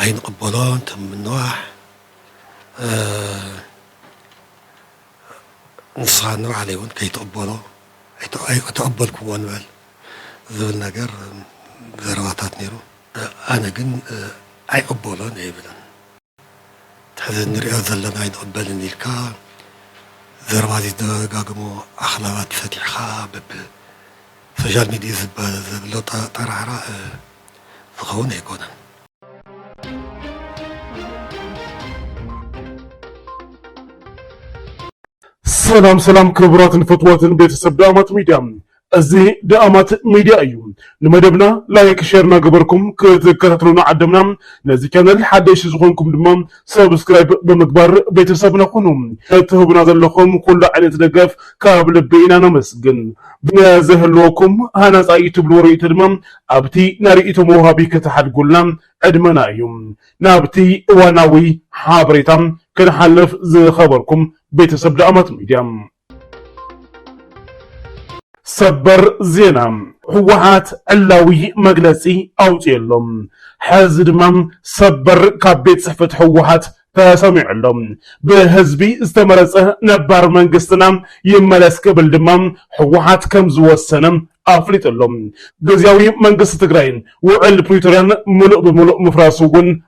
ኣይንቕበሎ እንተ ምንዋሕ ንስኻ ንባዕለይ እውን ከይትቕበሎ ኣይተቐበልክዎ ንበል ዝብል ነገር ዘረባታት ነይሩ። ኣነ ግን ኣይቕበሎን ኣይብልን። ሕዚ እንሪኦ ዘለና ኣይንቕበልን ኢልካ ዘረባ ዘይትደጋግሞ ኣኽላባት ፈቲሕኻ በብ ሶሻል ሚድዩ ዝባል ዘሎ ጠራዕራዕ ዝኸውን ኣይኮነን። ሰላም ሰላም ክቡራትን ፍትዋትን ቤተሰብ ዳኣማት ሚድያ እዚ ደኣማት ሚድያ እዩ ንመደብና ላይክ ሸር ናገበርኩም ክትከታተሉና ዓደምና ነዚ ቻነል ሓደሽቲ ዝኾንኩም ድማ ሰብስክራይብ ብምግባር ቤተሰብና ኩኑ እትህቡና ዘለኹም ኩሉ ዓይነት ደገፍ ካብ ልቢ ኢና ነመስግን ብዘህልወኩም ሃናፃ ይትብልዎ ርእይቶ ድማ ኣብቲ ናይ ርእይቶ መውሃቢ ከተሓድጉልና ዕድመና እዩ ናብቲ እዋናዊ ሓበሬታ ክንሓልፍ ዝኸበርኩም ቤተሰብ ደኣማት ሚድያ ሰበር ዜና ህወሓት ዕላዊ መግለፂ ኣውፅኡ ኣሎ። ሕዚ ድማ ሰበር ካብ ቤት ፅሕፈት ህወሓት ተሰሚዑ ኣሎ። ብህዝቢ ዝተመረፀ ነባር መንግስትና ይመለስ ክብል ድማ ህወሓት ከም ዝወሰነ ኣፍሊጡ ኣሎ። ግዝያዊ መንግስቲ ትግራይን ውዕል ፕሪቶርያን ምሉእ ብምሉእ ምፍራሱ እውን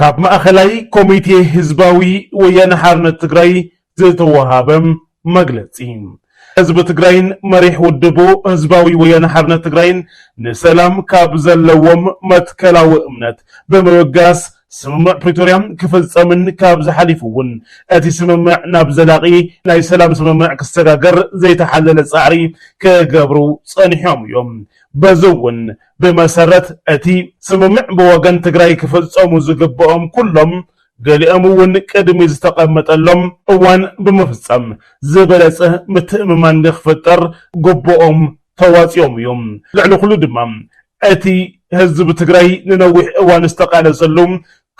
ካብ ማእኸላይ ኮሚቴ ህዝባዊ ወያነ ሓርነት ትግራይ ዝተወሃበ መግለፂ። ህዝቢ ትግራይን መሪሕ ውድቡ ህዝባዊ ወያነ ሓርነት ትግራይን ንሰላም ካብ ዘለዎም መትከላዊ እምነት ብምብጋስ ስምምዕ ፕሪቶርያ ክፍፀምን ካብዚ ሓሊፉ እውን እቲ ስምምዕ ናብ ዘላቒ ናይ ሰላም ስምምዕ ክሰጋገር ዘይተሓለለ ፃዕሪ ክገብሩ ፀኒሖም እዮም። በዚ እውን ብመሰረት እቲ ስምምዕ ብወገን ትግራይ ክፍፀሙ ዝግበኦም ኩሎም ገሊኦም እውን ቅድሚ ዝተቐመጠሎም እዋን ብምፍፃም ዝበለፀ ምትእምማን ንክፍጠር ግቡኦም ተዋፂኦም እዮም። ልዕሊ ኩሉ ድማ እቲ ህዝቢ ትግራይ ንነዊሕ እዋን ዝተቓለሰሉ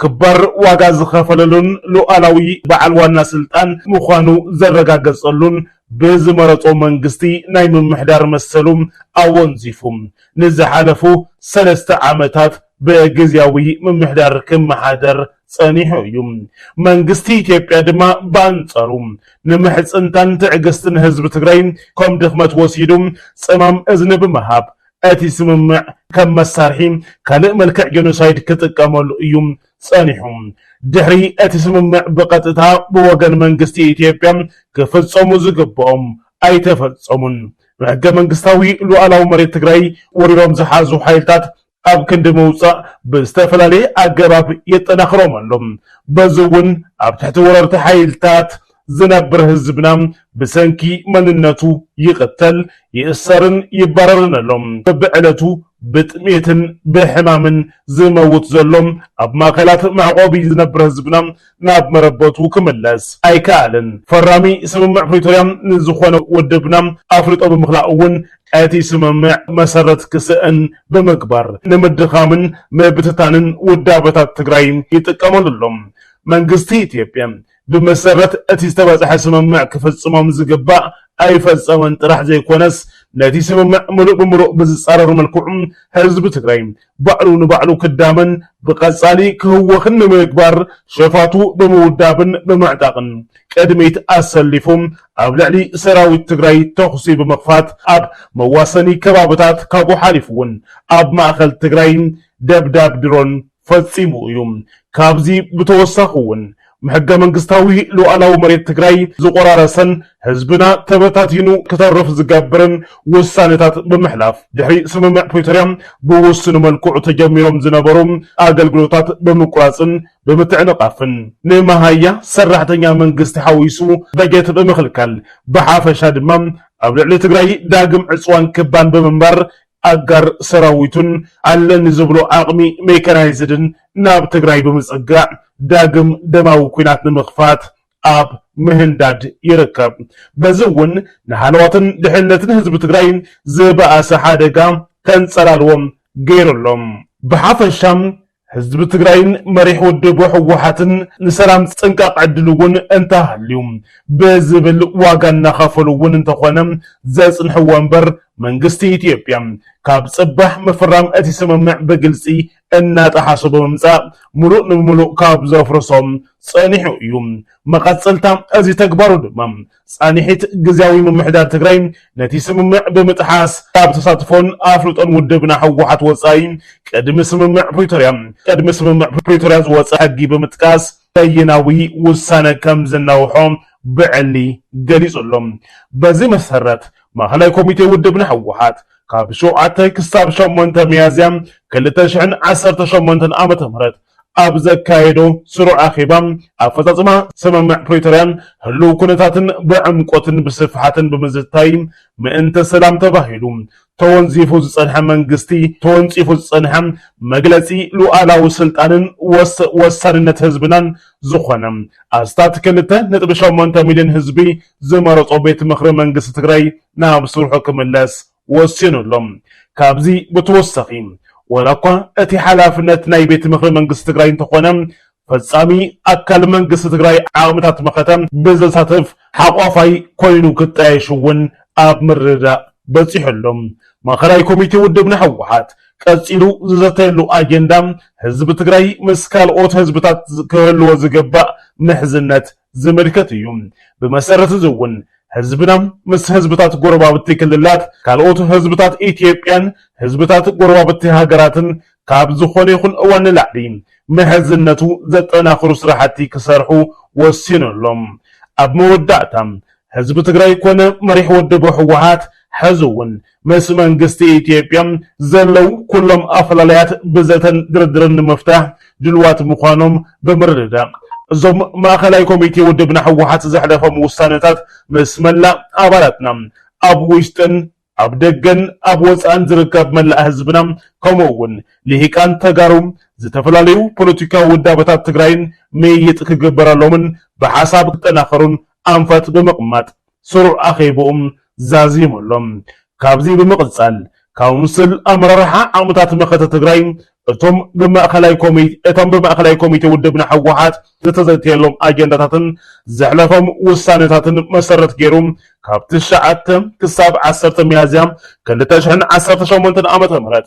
ክባር ዋጋ ዝኸፈለሉን ሉኣላዊ በዓል ዋና ስልጣን ምዃኑ ዘረጋገጸሉን ብዝመረጾ መንግስቲ ናይ ምምሕዳር መሰሉ ኣወንዚፉ ንዝሓለፉ ሰለስተ ዓመታት ብግዝያዊ ምምሕዳር ክመሓደር ጸኒሑ እዩ። መንግስቲ ኢትዮጵያ ድማ ብኣንጻሩ ንምሕጽንታን ትዕግስትን ህዝቢ ትግራይ ከም ድኽመት ወሲዱ ጸማም እዝኒ ብምሃብ እቲ ስምምዕ ከም መሳርሒ ካልእ መልክዕ ጀኖሳይድ ክጥቀመሉ እዩ ጸኒሑ። ድሕሪ እቲ ስምምዕ ብቐጥታ ብወገን መንግስቲ ኢትዮጵያ ክፍጸሙ ዝግብኦም ኣይተፈጸሙን። ብሕገ መንግስታዊ ሉኣላዊ መሬት ትግራይ ወሪሮም ዝሓዙ ሓይልታት ኣብ ክንዲ ምውጻእ ብዝተፈላለየ ኣገባብ የጠናኽሮም ኣሎ። በዚ እውን ኣብ ትሕቲ ወረርቲ ሓይልታት ዝነብር ህዝብና ብሰንኪ መንነቱ ይቕተል፣ ይእሰርን ይባረርን ኣሎ። በብዕለቱ ብጥሜትን ብሕማምን ዝመውት ዘሎ ኣብ ማእከላት መዕቆቢ ዝነብር ህዝብና ናብ መረበቱ ክምለስ ኣይከኣልን። ፈራሚ ስምምዕ ፕሪቶርያ ንዝኾነ ውድብና ኣፍልጦ ብምኽላእ እውን እቲ ስምምዕ መሰረት ክስእን ብምግባር ንምድኻምን ምብትታንን ውዳበታት ትግራይ ይጥቀመሉ ኣሎ መንግስቲ ኢትዮጵያ። ብመሰረት እቲ ዝተበጽሐ ስምምዕ ክፍጽሞም ዝግባእ ኣይፈጸመን ጥራሕ ዘይኮነስ ነቲ ስምምዕ ምሉእ ብምሉእ ብዝጻረር መልክዑ ህዝቢ ትግራይ ባዕሉ ንባዕሉ ክዳመን ብቐጻሊ ክህወኽን ንምግባር ሸፋቱ ብምውዳብን ብምዕጣቕን ቅድሚት ኣሰሊፉ ኣብ ልዕሊ ሰራዊት ትግራይ ተኹሲ ብምኽፋት ኣብ መዋሰኒ ከባብታት ካብኡ ሓሊፉ እውን ኣብ ማእኸል ትግራይ ደብዳብ ድሮን ፈፂሙ እዩ። ካብዚ ብተወሳኺ እውን ሕገ መንግስታዊ ሉኣላዊ መሬት ትግራይ ዝቖራረሰን ህዝብና ተበታቲኑ ክተርፍ ዝገብርን ውሳነታት ብምሕላፍ ድሕሪ ስምምዕ ፕሪቶርያ ብውሱን መልክዑ ተጀሚሮም ዝነበሩ ኣገልግሎታት ብምቁራፅን ብምትዕንቓፍን ንመሃያ ሰራሕተኛ መንግስቲ ሓዊሱ በጀት ብምኽልካል ብሓፈሻ ድማ ኣብ ልዕሊ ትግራይ ዳግም ዕፅዋን ክባን ብምንባር ኣጋር ሰራዊቱን ኣለኒ ዝብሎ ዓቕሚ ሜካናይዝድን ናብ ትግራይ ብምፅጋዕ ዳግም ደማዊ ኲናት ንምኽፋት ኣብ ምህንዳድ ይርከብ። በዚ እውን ንሃለዋትን ድሕንነትን ህዝቢ ትግራይ ዝበኣሰ ሓደጋ ከንፀላልዎ ገይሩ ኣሎ። ብሓፈሻ ህዝቢ ትግራይን መሪሕ ውድብ ህወሓትን ንሰላም ፅንቃቕ ዕድል እውን እንተሃልዩ ብዝብል ዋጋ እናኸፈሉ እውን እንተኾነ ዘፅንሕዎ እምበር መንግስቲ ኢትዮጵያ ካብ ፅባሕ ምፍራም እቲ ስምምዕ ብግልፂ እናጠሓሶ ብምምፃእ ሙሉእ ንብሙሉእ ካብ ዘፍርሶ ፀኒሑ እዩ። መቐፀልታ እዚ ተግባሩ ድማ ፃንሒት ግዝያዊ ምምሕዳር ትግራይ ነቲ ስምምዕ ብምጥሓስ ካብ ተሳትፎን ኣፍልጦን ውድብና ህወሓት ወፃኢ ቅድሚ ስምምዕ ፕሪቶርያ ቅድሚ ስምምዕ ፕሪቶርያ ዝወፀ ሕጊ ብምጥቃስ በይናዊ ውሳነ ከም ዝናውሖ ብዕሊ ገሊፁ ኣሎ። በዚ መሰረት ማእኸላይ ኮሚቴ ውድብና ህወሓት ካብ ሸውዓተ ክሳብ ሸሞንተ ሚያዝያ ክልተ ሽሕን ዓሰርተ ሸሞንተን ዓመተ ምህረት ኣብ ዘካየዶ ስሩዕ ኣኼባ፣ ኣፈፃፅማ ስምምዕ ፕሪቶርያን ህልው ኩነታትን ብዕምቆትን ብስፍሓትን ብምዝታይ ምእንተ ሰላም ተባሂሉ ተወንዚፉ ዝፀንሐ መንግስቲ ተወንፂፉ ዝፀንሐ መግለፂ ሉኣላዊ ስልጣንን ወሳንነት ህዝብናን ዝኾነ ኣስታት ክልተ ነጥቢ ሸሞንተ ሚሊዮን ህዝቢ ዝመረፆ ቤት ምኽሪ መንግስቲ ትግራይ ናብ ስርሑ ክምለስ ወሲኑ ኣሎ። ካብዚ ብተወሳኺ ዋላ እኳ እቲ ሓላፍነት ናይ ቤት ምኽሪ መንግስቲ ትግራይ እንተኾነ ፈፃሚ ኣካል መንግስቲ ትግራይ ዓቕምታት መኸተ ብዘሳትፍ ሓቋፋይ ኮይኑ ክጣየሽ እውን ኣብ ምርድዳእ በፂሑ ኣሎ። ማእኸላይ ኮሚቴ ውድብና ህወሓት ቀፂሉ ዝዘተየሉ ኣጀንዳ ህዝቢ ትግራይ ምስ ካልኦት ህዝብታት ክህልዎ ዝግባእ ምሕዝነት ዝምልከት እዩ። ብመሰረት እዚ እውን ህዝብና ምስ ህዝብታት ጎረባብቲ ክልላት፣ ካልኦት ህዝብታት ኢትዮጵያን ህዝብታት ጎረባብቲ ሃገራትን ካብ ዝኾነ ይኹን እዋን ንላዕሊ ምሕዝነቱ ዘጠናኽሩ ስራሕቲ ክሰርሑ ወሲኑ ኣሎ። ኣብ መወዳእታ ህዝቢ ትግራይ ኮነ መሪሕ ውድብ ህወሓት ሐዚ እውን ምስ መንግስቲ ኢትዮጵያ ዘለው ኩሎም ኣፈላላያት ብዘተን ድርድርን ንምፍታሕ ድልዋት ምዃኖም ብምርድዳእ እዞም ማእኸላይ ኮሚቴ ውድብና ህወሓት ዘሕለፎም ውሳነታት ምስ መላእ ኣባላትና ኣብ ውሽጥን ኣብ ደገን ኣብ ወፃእን ዝርከብ መላእ ህዝብና ከምኡ እውን ልሂቃን ተጋሩ ዝተፈላለዩ ፖለቲካዊ ውዳበታት ትግራይን ምይይጥ ክግበረሎምን ብሓሳብ ክጠናኸሩን ኣንፈት ብምቕማጥ ስሩዕ ኣኼብኡ ዛዚሙ ኣሎ። ካብዚ ብምቕፃል ካውንስል ኣመራርሓ ዓቕምታት መኸተ ትግራይ እቶም ብማእኸላይ ኮሚቴ እቶም ብማእኸላይ ኮሚቴ ውድብና ህወሓት ዝተዘተየሎም ኣጀንዳታትን ዘሕለፎም ውሳነታትን መሰረት ገይሩ ካብ ትሽዓተ ክሳብ ዓሰርተ ሚያዝያ ክልተ ሽሕን ዓሰርተ ሸሞንተን ዓመተ ምህረት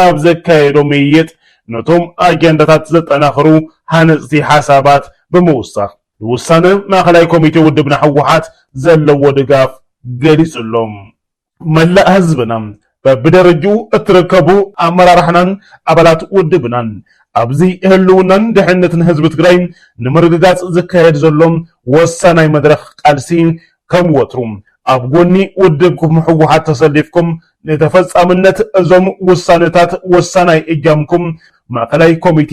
ኣብ ዘካየዶ ምይይጥ ነቶም ኣጀንዳታት ዘጠናኽሩ ሃነፅቲ ሓሳባት ብምውሳኽ ንውሳነ ማእኸላይ ኮሚቴ ውድብና ህወሓት ዘለዎ ድጋፍ ገሊፁ ኣሎ። መላእ ህዝብና በብደረጅኡ እትርከቡ ኣመራርሓናን ኣባላት ውድብናን ኣብዚ ህልውናን ድሕንነትን ህዝቢ ትግራይ ንምርግጋፅ ዝካየድ ዘሎ ወሳናይ መድረኽ ቃልሲ ከም ወትሩ ኣብ ጎኒ ውድብኩም ህወሓት ተሰሊፍኩም ንተፈፃምነት እዞም ውሳነታት ወሳናይ እጃምኩም ማእኸላይ ኮሚቴ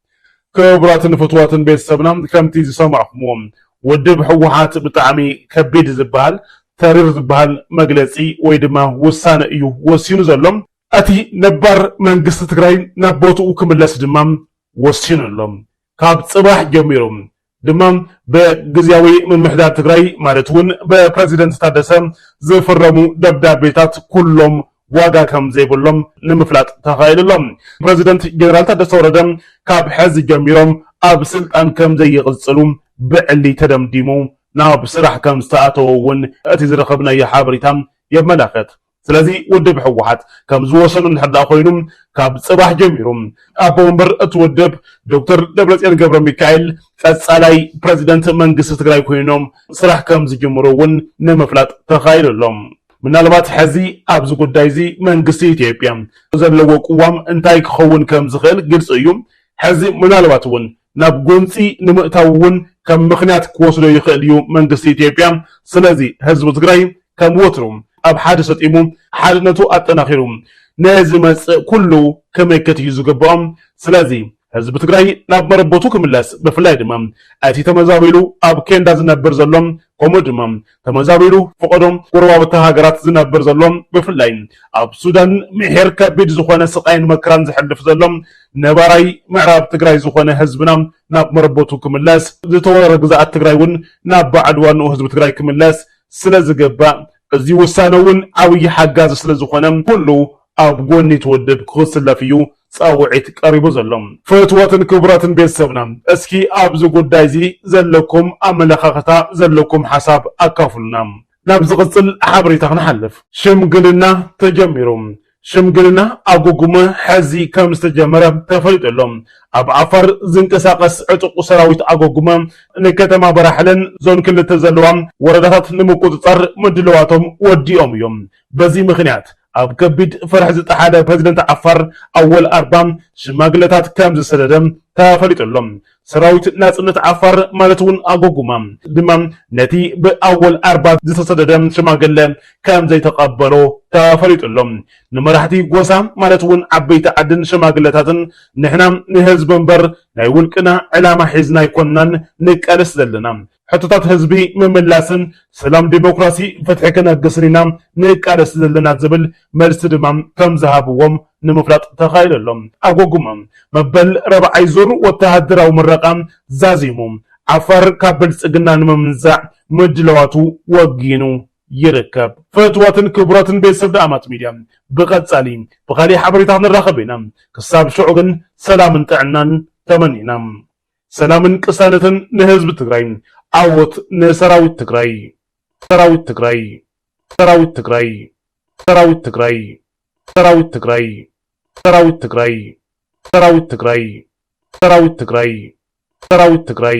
ክቡራትን ፍትዋትን ቤተሰብና ከምቲ ዝሰማዕኹምዎ ውድብ ህወሓት ብጣዕሚ ከቢድ ዝበሃል ተሪር ዝበሃል መግለፂ ወይ ድማ ውሳነ እዩ ወሲኑ ዘሎ። እቲ ነባር መንግስቲ ትግራይ ናብ ቦትኡ ክምለስ ድማ ወሲኑ ኣሎ። ካብ ፅባሕ ጀሚሩ ድማ ብግዝያዊ ምምሕዳር ትግራይ ማለት እውን ብፕረዚደንት ታደሰ ዝፍረሙ ደብዳቤታት ኩሎም ዋጋ ከም ዘይብሎም ንምፍላጥ ተኻኢሉ ኣሎ። ፕረዚደንት ጀነራል ታደሰ ወረደ ካብ ሕዚ ጀሚሮም ኣብ ስልጣን ከም ዘይቕፅሉ ብዕሊ ተደምዲሙ ናብ ስራሕ ከም ዝተኣተወ እውን እቲ ዝረኸብናዮ ሓበሬታ የመላኽት። ስለዚ ውድብ ህወሓት ከም ዝወሰኑ እንድሕር ደኣ ኮይኑ ካብ ፅባሕ ጀሚሩ ኣቦ ወንበር እቲ ውድብ ዶክተር ደብረፅዮን ገብረሚካኤል ቀፃላይ ፕረዚደንት መንግስቲ ትግራይ ኮይኖም ስራሕ ከም ዝጅምሩ እውን ንምፍላጥ ተኻኢሉ ኣሎ። ምናልባት ሕዚ ኣብዚ ጉዳይ እዚ መንግስቲ ኢትዮጵያ ዘለዎ ቅዋም እንታይ ክኸውን ከም ዝኽእል ግልፂ እዩ። ሕዚ ምናልባት እውን ናብ ጎንፂ ንምእታው እውን ከም ምኽንያት ክወስዶ ይኽእል እዩ መንግስቲ ኢትዮጵያ። ስለዚ ህዝቢ ትግራይ ከም ወትሩ ኣብ ሓደ ሰጢሙ ሓድነቱ ኣጠናኺሩ ንዝመፅእ ኩሉ ክምክት እዩ ዝግበኦ። ስለዚ ህዝቢ ትግራይ ናብ መረበቱ ክምለስ ብፍላይ ድማ እቲ ተመዛቢሉ ኣብ ኬንዳ ዝነብር ዘሎ ከምኡ ድማ ተመዛቢሉ ፈቐዶ ጎረባብቲ ሃገራት ዝነብር ዘሎ ብፍላይ ኣብ ሱዳን ምሒር ከቢድ ዝኾነ ስቓይን መከራን ዘሕልፍ ዘሎ ነባራይ ምዕራብ ትግራይ ዝኾነ ህዝብና ናብ መረበቱ ክምለስ ዝተወረረ ግዝኣት ትግራይ እውን ናብ ባዕሉ ዋንኡ ህዝቢ ትግራይ ክምለስ ስለ ዝግባእ እዚ ውሳነ እውን ዓብዪ ሓጋዚ ስለ ዝኾነ ኩሉ ኣብ ጎኒ እቲ ውድብ ክስለፍ እዩ ፃውዒት ቀሪቡ ዘሎ። ፍትወትን ክብረትን ቤተሰብና እስኪ ኣብዚ ጉዳይ እዚ ዘለኩም ኣመለኻኽታ ዘለኩም ሓሳብ ኣካፍሉና ናብ ዝቕፅል ሓበሬታ ክንሓልፍ። ሽምግልና ተጀሚሩ ሽምግልና ኣጉጉመ ሐዚ ከም ዝተጀመረ ተፈሊጡ ኣሎ። ኣብ ዓፋር ዝንቀሳቐስ ዕጡቕ ሰራዊት ኣጎጉመ ንከተማ በራሕለን ዞን ክልተ ዘለዋ ወረዳታት ንምቁፅፃር ምድልዋቶም ወዲኦም እዮም። በዚ ምኽንያት ኣብ ከቢድ ፍርሒ ዝጠሓለ ፕረዚደንት ዓፋር ኣወል ኣርባ ሽማግለታት ከም ዝሰደደ ተፈሊጡ ኣሎ። ሰራዊት ናጽነት ዓፋር ማለት'ውን ኣጎጉማ ድማ ነቲ ብኣወል ኣርባ ዝተሰደደ ሽማግለ ከም ዘይተቐበሎ ተፈሊጡ ኣሎ። ንመራሕቲ ጎሳ ማለት'ውን ዓበይቲ ዓድን ሽማግለታትን ንሕና ንህዝቢ እምበር ናይ ውልቅና ዕላማ ሒዝና ኣይኮናን ንቃለስ ዘለና፣ ሕቶታት ህዝቢ ምምላስን ሰላም ዴሞክራሲ ፍትሒ ክነግስን ኢና ንቃለስ ዘለና ዝብል መልሲ ድማ ከምዝሃብዎም ንምፍላጥ ተኻኢሉ ኣሎ። ኣጎጉመ መበል ራብዓይ ዙር ወተሃደራዊ ምረቓ ዛዚሙ ዓፋር ካብ ብልፅግና ንምምንዛዕ ምድላዋቱ ወጊኑ ይርከብ። ፍትዋትን ክቡራትን ቤተሰብ ደኣማት ሚድያ ብቀፃሊ ብካሊእ ሓበሬታ ክንራኸብ ኢና ክሳብ ሽዑ ግን ሰላምን ጥዕናን ተመኒና። ሰላምን ቅሳነትን ንህዝቢ ትግራይ ዓወት ንሰራዊት ትግራይ ሰራዊት ትግራይ ሰራዊት ትግራይ ሰራዊት ትግራይ ሰራዊት ትግራይ ሰራዊት ትግራይ ሰራዊት ትግራይ ሰራዊት ትግራይ ሰራዊት ትግራይ